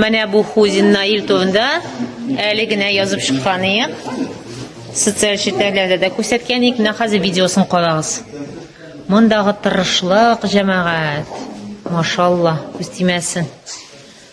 Менә бу Хузин Наил турында әле генә язып чыккан идек. Социаль челтәрләрдә дә күрсәткән идек. Менә хәзер видеосын карагыз. Мондагы тырышлык, җәмәгать. Машалла, күз тимәсен.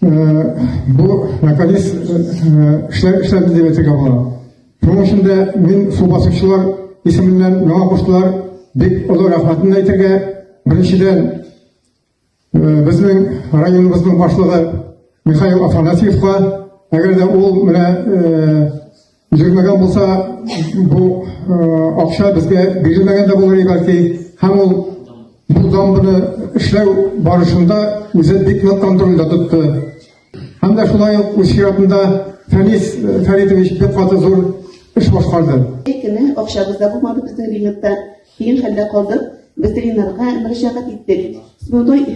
Бу наконец эшләр эшләр дип әйтергә була. Шуның өчен дә мин су басучылар исеменнән миңа куштылар. Бик олы рәхмәтемне әйтергә. Беренчедән безнең районыбызның башлыгы Михаил Афанасьевка, әгәр дә ул менә Бирелмәгән булса, бу акча безгә бирелмәгән дә булыр бәлки. Һәм ул бу дамбаны эшләү барышында үзе бик нык контрольдә тотты. Һәм дә шулай ук үз чиратында Фәнис Фәридович бик каты зур эш башкарды. Әйтеме, акчабыз да булмады безнең бинетта. Киен хәлдә калдык. Ветеринарга мөрәҗәгать иттек. Сбудой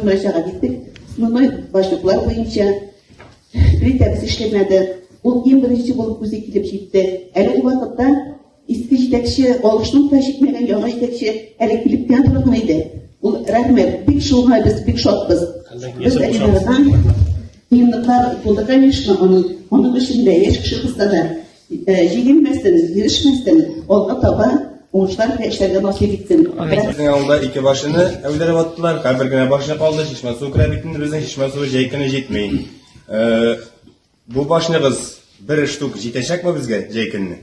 мөрәҗәгать иттек. Основной башлыклар буенча плитәбез эшләмәде. Ул иң беренче булып үзе килеп җитте. Әлеге вакытта иске җитәкче алышның да җитмәгән яңа җитәкче әле килеп кенә торган иде. Ул рәхмәт, бик шуңа без бик шатбыз. Без әйләнәдән Минутлар булды, конечно, аның, аның эшендә яшь кеше кызларда. Җигелмәсен, ирешмәсен, алга таба уңышлар генә эшләргә насыйп итсен. Безнең авылда ике башыны әүдереп аттылар, һәм бер генә башны калды, чишмә суы керә бит инде безнең чишмә суы җәй көне җитми. Э, бу башныгыз бер штук җитәчәкме безгә җәй көнне?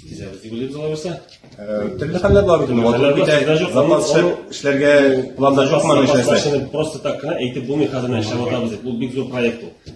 Җитәбез дип уйлыйбыз алай булса. Э, төрле хәлләр бар бит инде, ватылып китә, запас эшләргә планда жокмы эшләсә. Просто так кына әйтеп булмый хәзер эшләп атабыз. Бу бик зур проект ул.